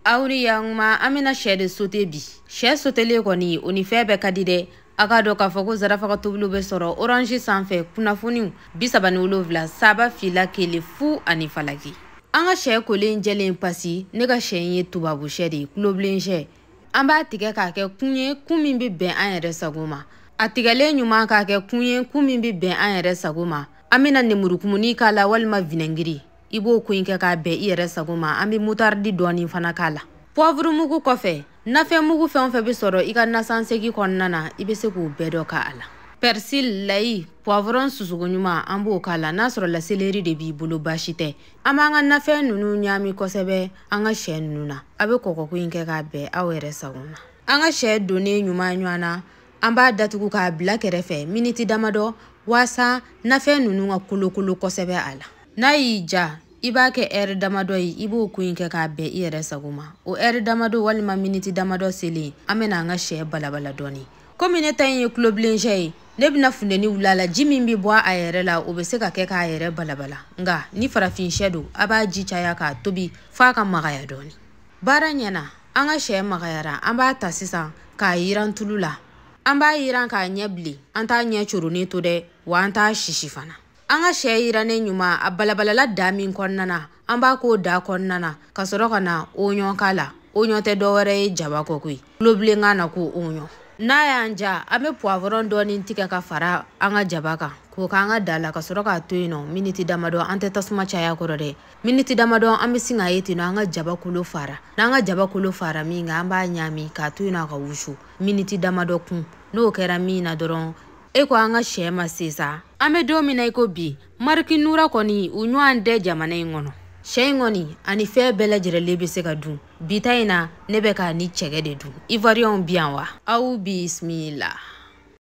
aw ni yankuma an bɛna sɛ de sote bi sɛ sotelen kɔni o ni fɛn bɛɛ ka di dɛ a k'a dɔn k'a fɔ ko zarafaga tobiliw bɛ sɔrɔ orange sanfɛ kunnafoniw bi saba ni wolonwula saba fila kelen fu ani falaki an ka sɛ kolen jɛlen pasi ne ka sɛ in ye tubabu sɛ de ye tulobilen sɛ an b'a tigɛ k'a kɛ kun ye kun min bɛ bɛn an yɛrɛ sago ma a tigɛlen ɲuman k'a kɛ kun ye kun min bɛ bɛn an yɛrɛ sago ma an bɛna nemurukumuni k'a la walima vinɛngiri i b'o ko in kɛ k'a bɛn i yɛrɛ sago ma an bɛ mutaridi dɔɔnin fana k'a la pɔvuru mugu kɔfɛ nafɛn mugu fɛn o fɛn bɛ sɔrɔ i ka nasansegi kɔnɔna na i bɛ se k'o bɛɛ dɔ k'a la pɛrisili layi pɔvurɔn susuko ɲuman an b'o k'a la n'a sɔrɔla seleri de b'i bolo baasi tɛ an b'an ka nafɛn ninnu ɲaami kosɛbɛ an ka sɛ ninnu na a bɛ kɔkɔko in kɛ k'a bɛn aw yɛrɛ sago ma an ka sɛ donnen ɲuman ɲɔgɔn na an b'a datugu k'a bila kɛrɛfɛ miniti damadɔ waasa nafɛn ninnu ka kolokolo kosɛbɛ a la n'a y'i ja i b'a kɛ ɛri damadɔ ye i b'o ko in kɛ k'a bɛn i yɛrɛ sago ma o ɛri damadɔ walima miniti damadɔ selen an bɛna an ka sɛ balabala dɔɔni komi ne ta in ye tulobilen sɛ ye ne bɛna funteni wuli a la ji min bɛ bɔ a yɛrɛ la o bɛ se ka kɛ k'a yɛrɛ balabala nka ni farafin sɛ don a b'a ji caya k'a tobi f'a ka magaya dɔɔni baara ɲɛna an ka sɛ magayara an b'a ta sisan k'a yiran tulu la an b'a yiran k'a ɲɛ bilen an t'a ɲɛ coronnen to dɛ wa an t'a sisi fana an ka sɛ yirannen ɲuman a balabalala daa min kɔnɔna na an b'a k'o daa kɔnɔna na ka sɔrɔ ka na oɲɔn k'a la oɲɔn tɛ dɔwɛrɛ ye jaba kɔ koyi tulobilenkan na ko oɲɔn n'a y'an ja an bɛ puwavɔrɔn dɔɔni tigɛ ka fara an ka jaba kan k'o k'an ka daa la ka sɔrɔ k'a to yen nɔ miniti damadɔ an tɛ tasuma caya kɔrɔ dɛ miniti damadɔ an bɛ sin k'a ye ten nɔ an ka jaba kolo faara n'an ka jaba kolo faara min kan an b'a ɲaami k'a to yen nɔ a ka wusu miniti damadɔ kun n'o kɛra min na dɔrɔn e ko an ka sɛ ma se sa an bɛ don min na i ko bi mariki nura kɔni u ɲɔgɔn tɛ jamana in kɔnɔ sɛ in kɔni ani fɛn bɛɛ lajɛrɛlen bɛ se ka dun bi ta in na ne bɛ k'a ni cɛgɛ de dun ivoiriyɛnw bi yan wa aw bisimila